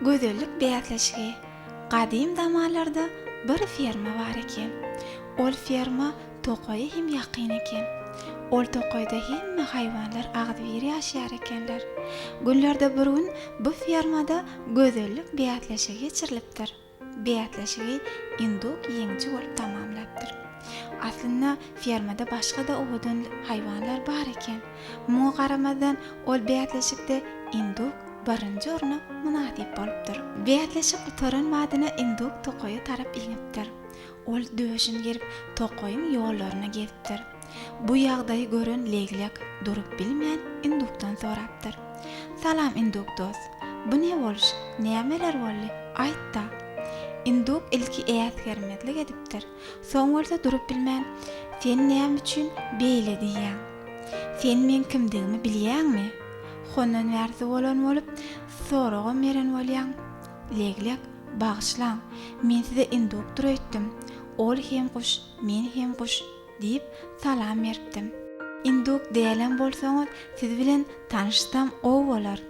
Gözellik bäsleşigi. Gadym zamanlarda bir ferma bar eken. Ol ferma tokaýa hem ýakyn eken. Ol tokaýda hemme haýwanlar agzybir ýaşaýar ekenler. Günlerde bir gün bu fermada gözellik bäsleşigi geçirilipdir. Bäsleşigi induk ýeňiji bolup tamamlapdyr. Aslynda fermada başga-da owadan haýwanlar bar eken. Muňa garamazdan, ol bäsleşikde induk birinji orna mynasyp bolupdyr. Bäsleşik gutaran badyna induk tokaýa tarap inipdir. Ol döşüni gerip, tokaýyň ýollaryna gezipdir. Bu ýagdaýy gören leglek durup bilmän indukdan sorapdyr. Salam induk dos. Bu ne boluş, nämeler boldy, aýt-da? Induk ilki äsgermezlik edipdir. Soň bolsa durup bilmän, Sen näme üçin beýle diýýäň? Sen meň kimdigimi bilýäňmi? Hondan bärsi bolan bolup, soragam beren bolýaň. Leglek, Bagyşlaň, men size indukdyr öýtdüm. Ol hem guş, men hem guş. Diýip, salam beripdim. Induk dälem bolsaňyz, siz bilen tanyşsam gowy bolar.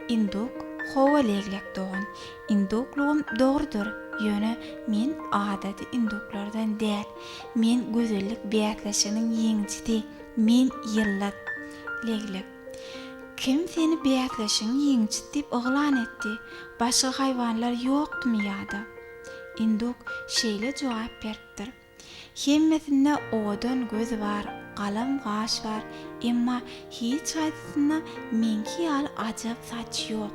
Induk, Hawa, leglek dogan, induklugym dogrudyr, ýöne men adaty induklardan däl. Men gözellik bäsleşiginiň ýeňijisi, men ýyldyz. Leglek, Kim seni bäsleşigiň ýeňijisi diýip yglan etdi? Başga haýwanlar ýokdumy ýa-da? Induk şeýle jogap beripdir. Hemmesinde owadan göz bar, galam gaş bar, emma hiç haýsysynda meňki ýaly ajap saç ýok.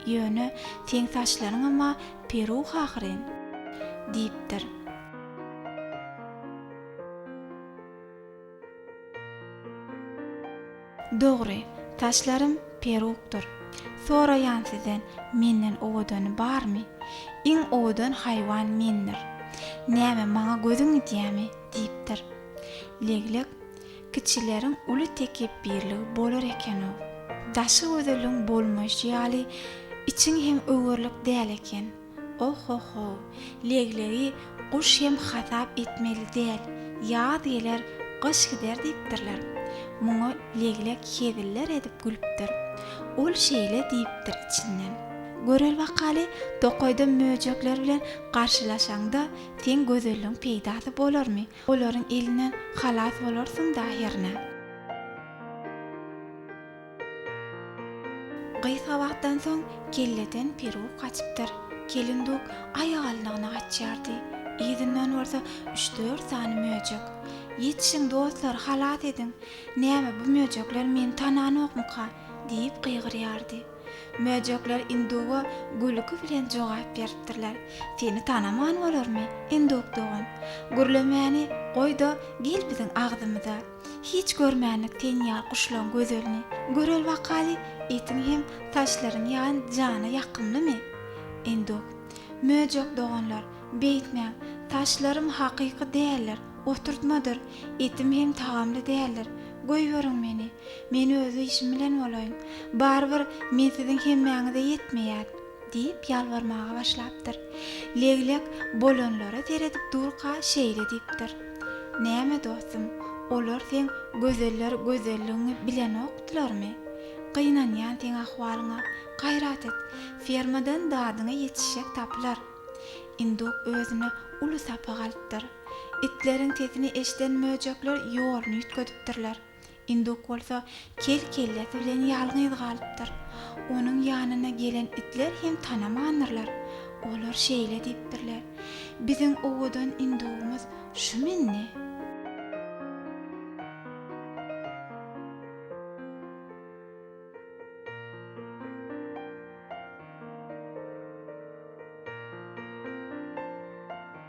Ýöne seň saçlaryň emma peruh ahyryn! diýipdir. Dogry, saçlarym perukdyr. Soraýan sizden, menden owadany barmy? Iň owadan haýwan mendir. Näme, maňa gözüň gidýämi? diýipdir. Leglek, Kiçileriň uly tekepbirligi bolar eken-ow. Daşy gözeliň bolmaýşy ýaly, içiň hem öwerlik däl eken. Ohohow, leglegi guş hem hasap etmeli däl, ýaz geler, gyş gider diýipdirler. Muňa leglek heziller edip gülüpdir. Ol şeýle diýipdir içinden, Göreli bakaly, tokaýda möjekler bilen garşylaşaňda, seň gözelligiň peýdasy bolarmy? Olaryň elinden halas bolarsyň-da hernä. Gysga wagtdan soň kelleden peruk gaçypdyr. Kelinduk aýalynygyna gaçýardy. Yzyndan bolsa üç-dört sany möjek. Ýetişiň, dostlar, halas ediň! Näme, bu möjekler meni tananokmyka? diýip gygyrýardy. Möjekler induga gülki bilen jogap beripdirler, Seni tanaman bolarmy, induk dogan? Gürlemäni goý-da, gel biziň agzymyza! Hiç görmänlik ten ýaly guşlaň gözelini. Göreli bakaly, etiň hem saçlaryň ýaly jana ýakymlymy? Endok. Möjek doganlar, beýtmäň, saçlarym hakyky däldir, oturtmadyr, etim hem tagamly däldir. Goýberiň meni. Men öz işim bilen bolaýyn. Barybir, men siziň hemmäňize ýetmeýän. Diýip ýalbarmaga başlapdyr. Leglek bolanlara seredip durka şeýle diýipdir, Näme dostum, olar seň gözeller gözelligiňi bilenokdylarmy? Gynanýan seň ahwalyňa. Gaýrat et, fermadan dadyňa ýetişjek tapylar. Induk özüne uly sapak alypdyr. Itleriň sesini eşiden möjekler ýoluny üýtgedipdirler. Induk bolsa kel kellesi bilen ýalňyz galypdyr. Onuň ýanyna gelen itler hem tanamandyrlar. Olar şeýle diýipdirler, Biziň owadan indugymyz şumy indi?